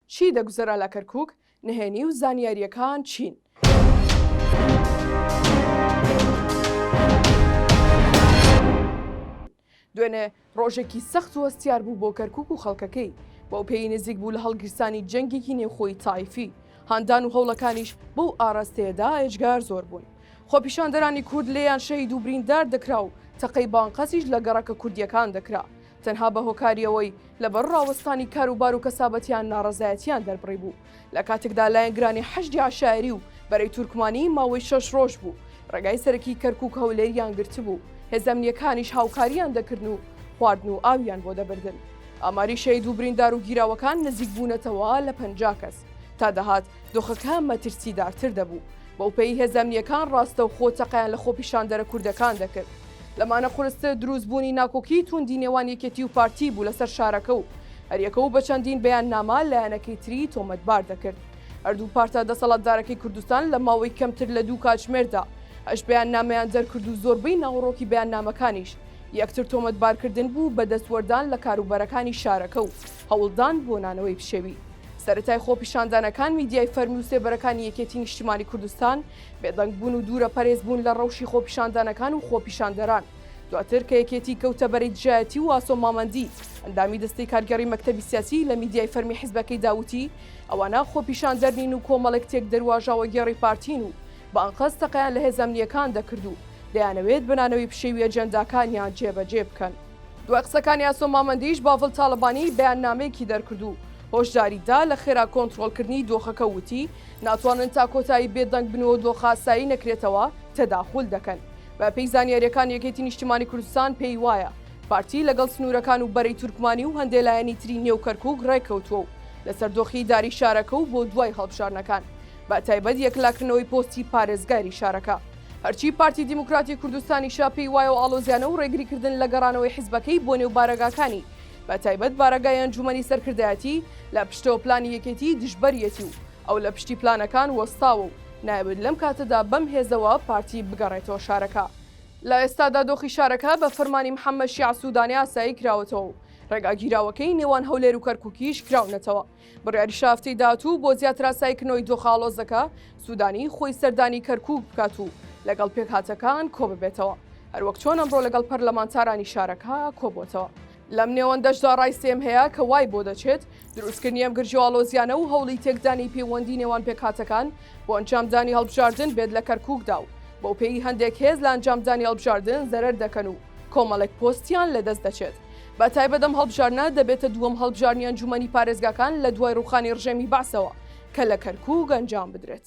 چی دەگوزەرا لە کەرکوک؟ نهێنی و زانیارییەکان چین؟ دوێنێ ڕۆژێکی سەخت و هەستیار بوو بۆ کەرکک و خەڵکەکەی بەو پێی نزیک بوو لە هەڵگیرسانی جەنگێکی نێوخۆی تایفی هاندان و هەوڵەکانیش بەو ئاراستەیەدا ئێجگار زۆر بوون خۆپیشاندەرانی کورد لێیان شەید و بریندار دەکرا و تەقەی بانقەسیش لە گەڕەکە کوردیەکان دەکرا تەنها بە هۆکاری ئەوەی لە بەر ڕاوەستانی کاروبار و کەسابەتیان ناڕەزایەتیان دەربڕی بوو لە کاتێکدا لایەنگرانی حەشدی عەشایەری و بەرەی تورکمانی ماوەی شەش ڕۆژ بوو ڕێگای سەرەکی کەرکوک هەولێریان گرتبوو هێزە ئەمنیەکانیش هاوکاریان دەکردن و خواردن و ئاویان بۆ دەبردن ئاماری شەهید و بریندار و گیراوەکان نزیک بوونەتەوە لە پەنجا کەس تا دەهات دۆخەکە مەترسیدارتر دەبوو، بەوپێیی هێزە ئەمنییەکان ڕاستەوخۆ تەقەیان لە خۆپیشاندەرە کوردەکان دەکرد. لەمانە قورستر دروستبوونی ناکۆکیی تووندی نێوان یەکێتی و پارتی بوو لەسەر شارەکە و هەریەکە و بە چەندین بەیاننامە لایەنەکەی تری تۆمەتبار دەکرد. هەردوو پارتە دەسەڵاتدارەکەی کوردستان لە ماوەی کەمتر لە دوو کاتژمێردا هەشت بەیاننامەیان دەرکرد و زۆربەی ناوەڕۆکی بەیاننامەکانیش یەکتر تۆمەتبارکردن بوو بە دەستوەردان لە کاروبەرەکانی شارەکە و هەوڵدان بۆ نانەوەی پشێوی. سەرەتای خۆپیشاندانەکان میدیای فەرمی و سێبەرەکانی یەکێتی نیشتیمانی کوردستان بێدەنگ بوون و دوورە پەرێز بوون لە ڕەوشی خۆپیشاندانەکان و خۆپیشاندەران دواتر کە یەکێتی کەوتە بەرەی دژایەتی و ئاسۆ مامەندی ئەندامی دەستەی کارگێڕی مەکتەبی سیاسی لە میدیای فەرمی حیزبەکەی داوتی ئەوانە خۆپیشاندەر نین و کۆمەڵێک تێک دەروواژاوەگێڕی پارتین و بە ئەنقەست تەقەیان لە هێزە ئەمنییەکان دەکرد و دەیانەوێت بە نانەوەی پشێوی ئەجێنداکانیان جێبەجێ بکەن. دوای قسەکانی ئاسۆ مامەندیش باڤڵ تاڵەبانی بەیاننامەیەکی دەرکرد و هۆشداری دا لە خێرا کۆنتڕۆڵکردنی دۆخەکە و وتی، ناتوانن تا کۆتایی بێدەنگ بن و دۆخە ئاسایی نەکرێتەوە، تەداخول دەکەن. بەپێی زانیارییەکان یەکێتی نیشتیمانی کوردستان پێی وایە پارتی لەگەڵ سنوورەکان و بەرەی تورکمانی و هەندێ لایەنی تری نێو کەرکووک ڕێککەوتووە و لەسەر دۆخی ئیداری شارەکە و بۆ دوای هەڵبژاردنەکان بەتایبەت یەکلاکردنەوەی پۆستی پارێزگاری شارەکە هەرچی پارتی دیموکراتی کوردستانیشە پێی وایە و ئاڵۆزیانە و ڕێگریکردن لە گەڕانەوەی حیزبەکەی بۆ نێو بارەگاکانی، بەتایبەت بارەگای ئەنجوومەنی سەرکردایەتی، لە پشتەوە پلانی یەکێتیی دژبەریەتی و ئەو لە پشتی پلانەکان وەستاوە و نایەوێت لەم کاتەدا بەم هێزەوە پارتی بگەڕێتەوە شارەکە. لە ئێستادا دۆخی شارەکە بە فەرمانی محەممەد شیاع سوودانی ئاسایی کراوەتەوە و ڕێگا گیراوەکەی نێوان هەولێر و کەرکووکیش کراونەتەوە. بڕیاری شافتی دات و بۆ زیاتراسای کنۆی دۆخاڵۆزەکە سودانی خۆی سەردانی کەرکوک بکات و لەگەڵ پێکهاتەکان کۆببێتەوە هەروەک چۆن ئەمڕۆ لەگەڵ پەرلەمانتارانی شارەکە کۆبۆتەوە لەم نێوەندەشدا ڕای سێم هەیە کە وای بۆ دەچێت دروستکردنی ئەم گرژۆاڵۆزیانە و هەوڵی تێکدانی پەیوەندی نێوان پێکهاتەکان بۆ ئەنجامدانی هەڵبژاردن بێت لە کەرکوکدا و بەو پێی هەندێک هێز لە ئەنجامدانی هەڵبژاردن زەرەر دەکەن و کۆمەڵێک پۆستیان لەدەست دەچێت. بە تایبەت ئەم هەڵبژاردنە دەبێتە دووەم هەڵبژاردنی ئەنجوومەنی پارێزگاکان لە دوای ڕووخانی ڕژێمی بەعسەوە کە لە کەرکووک ئەنجام بدرێت.